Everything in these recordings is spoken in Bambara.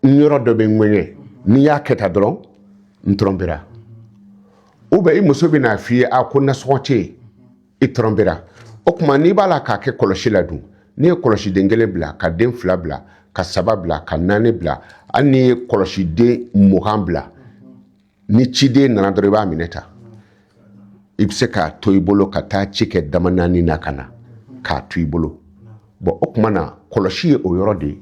n yɔrɔ dɔ bɛ n ŋɛɲɛ n'i y'a kɛ tan dɔrɔn n trompera ou bien i muso bɛ n'a f'i ye a ko nasɔngɔ tɛ yen i trompera o tuma n'i b'a la k'a kɛ kɔlɔsi la dun n'i ye kɔlɔsiden kelen bila ka den fila bila ka saba bila ka naani bila hali n'i ye kɔlɔsiden mugan bila ni ciden nana dɔrɔn i b'a minɛ ta i bɛ se k'a to i bolo ka taa ci kɛ dama naani na ka na k'a to i bolo bon o tuma na kɔlɔsi ye o yɔrɔ de ye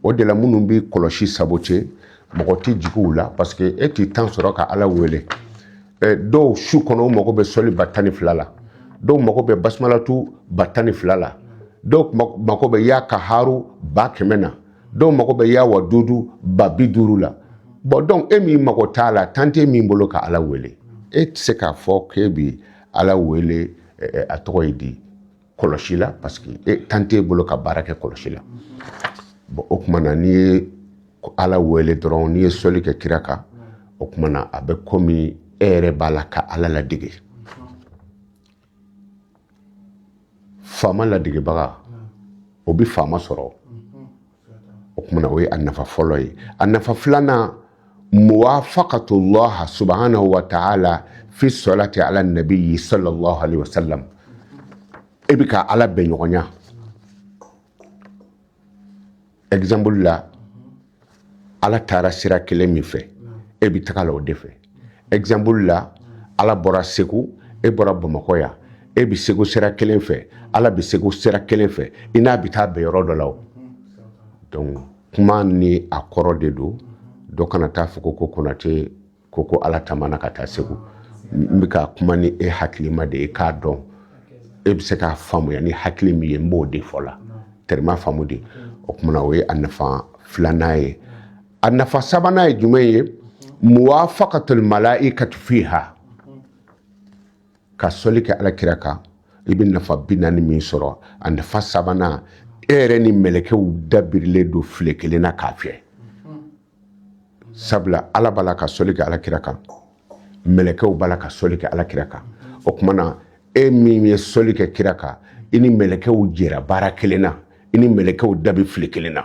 o de la minnu bɛ kɔlɔsi saboter mɔgɔ tɛ jigin u la parce que e t'i temps sɔrɔ ka ala wele dɔw su kɔnɔ u mago bɛ sɔli ba tan ni fila la dɔw mago bɛ basimalatu ba tan ni fila la dɔw mago bɛ ya kaharu ba kɛmɛ na dɔw mago bɛ ya wadudu ba bi duuru la bon donc e min mago t'a la temps tɛ min bolo ka ala wele e tɛ se k'a fɔ k'e bi ala wele a tɔgɔ ye di kɔlɔsi la parce que e temps t'e bolo ka baara kɛ kɔlɔsi la bon o tuma na n'i ye ala wele dɔrɔn n'i ye sɔli kɛ kira kan o tuma na a bɛ komi e yɛrɛ b'a la ka ala ladege faama ladegebaga o bɛ faama sɔrɔ o tuma na o ye a nafa fɔlɔ ye a nafa filanan muwafaqatu llaha subhanahu wa ta'ala fi salati ala nabiyyi sallallahu alaihi wasallam e bɛ ka ala bɛn ɲɔgɔnya exemple la ala taara sira kelen min fɛ e bɛ taga la o de fɛ exemple la ala bɔra segu e bɔra bamakɔ yan e bɛ segu sira kelen fɛ ala bɛ segu sira kelen fɛ i n'a bɛ taa bɛn yɔrɔ dɔ la o donc kuma ni a kɔrɔ de don dɔ kana taa fɔ ko ko konate ko ko ala taamana ka taa segu n bɛ ka kuma ni e hakilima de ye k'a dɔn e bɛ se k'a faamuya ni hakili min ye n b'o de fɔ la tɛrɛma faamu de o tuma na o ye a nafa filanan ye a nafa sabanan ye jumɛn ye muwafaqatul malaikatu fiha ka sɔli kɛ ala kira kan i bɛ nafa bi naani min sɔrɔ a nafa sabanan e yɛrɛ ni mɛlɛkɛw da birilen don file kelen na k'a fiyɛ sabula ala b'a la ka sɔli kɛ ala kira kan mɛlɛkɛw b'a la ka sɔli kɛ ala kira kan o tuma na e min ye sɔli kɛ kira kan i ni mɛlɛkɛw jɛra baara kelen na i ni mɛlɛkɛw da bɛ file kelen na